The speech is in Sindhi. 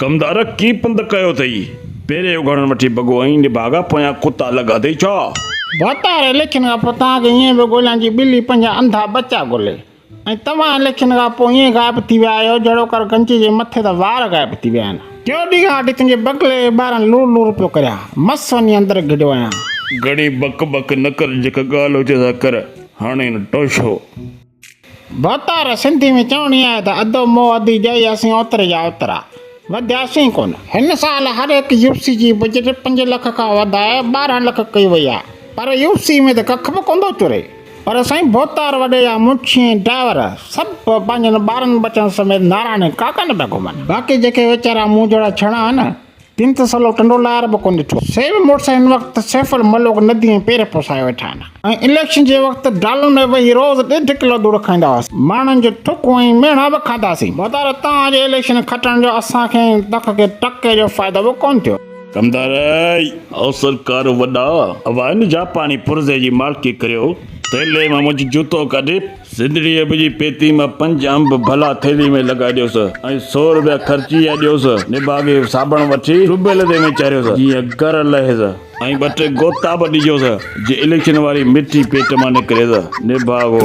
ڪم ته ارق ڪي پنڌ ڪيو اٿئي. پيري اگهاڙڻ وٺي بگو ائين نڀاڳا پويان ڪتا الڳ اٿئي ڇا؟ ڀاتار لکين کان پوء توهان کي ائين به ڳوليان جي ٻلي پنهنجا انڌا ٻچا ڳولي ۽ توهان لکين کان پوء ائين غائب ٿي ويا آهيو جهڙو ڪر گنجي جي مٿي تان وار غائب ٿي ويا آهن. ٽيون ڏينهن کان وٺي تنهنجي بگلي جي ٻارن لور لور پيو ڪريان. مس وڃي اندر گهڙيو آهيان. گهڻي بڪ بڪ نه ڪر جيڪا ڳالهه هجي سا ڪر هاڻي نه ٽوشو. ڀوتار، سنڌي ۾ چوڻي آهي ته ادو مون ادي جئي اسين اوتري جا اوترا. وڌياسين ڪونه. هن سال هر هڪ يو سي جي بجيٽ پنج لک کان وڌائي ٻارهن لک ڪئي وئي آهي پر يو سي ۾ ته ڪک به ڪونه ٿو چري. پر سائين ڀوتار وڏي جا منشي ۽ ڊائيور سڀ پنهنجن ٻارن ٻچن سميت ناراڻي ڪاڪن پيا گهمن. باقي جيڪي ويچارا مون جهڙا ڇڻا آهن تن ته سلو ٽنڊو لار به ڪونه ڏٺو. سيف مڙس هن وقت سيف الملوڪ ندي ۾ پير پسايو ويٺا آهن ۽ اليڪشن جي وقت ڊالن ۾ ويهي روز ڏيڍ ڪلو ڌوڙ کائيندا هئاسين. ماڻهن جون ٿڪون ۽ ميڻا به کاڌاسين. مدار توهان جي اليڪشن کٽڻ جو اسان کي ۽ تک کي ٽڪي جو فائدو به ڪونه ٿيو. ڪمدار او سرڪار وڏا اوهان جا پاڻي پرزي جي مالڪي ڪريو ٿيلهي مان منهنجو جوتو ڪڍي. زندڙي اڀ جي پيتي مان پنج انب ڀلا ٿيلهي ۾ لڳائي ڏيوس ۽ سؤ روپيا خرچي يا ڏيوس نڀاڳي صابڻ وٺي ٽيوبويل تي وڃي چاريوس جيئن گر لهيس ۽ ٻه ٽي غوطا به ڏجوس جي اليڪشن واري مٺي پيٽ مان نڪريس نڀاڳو.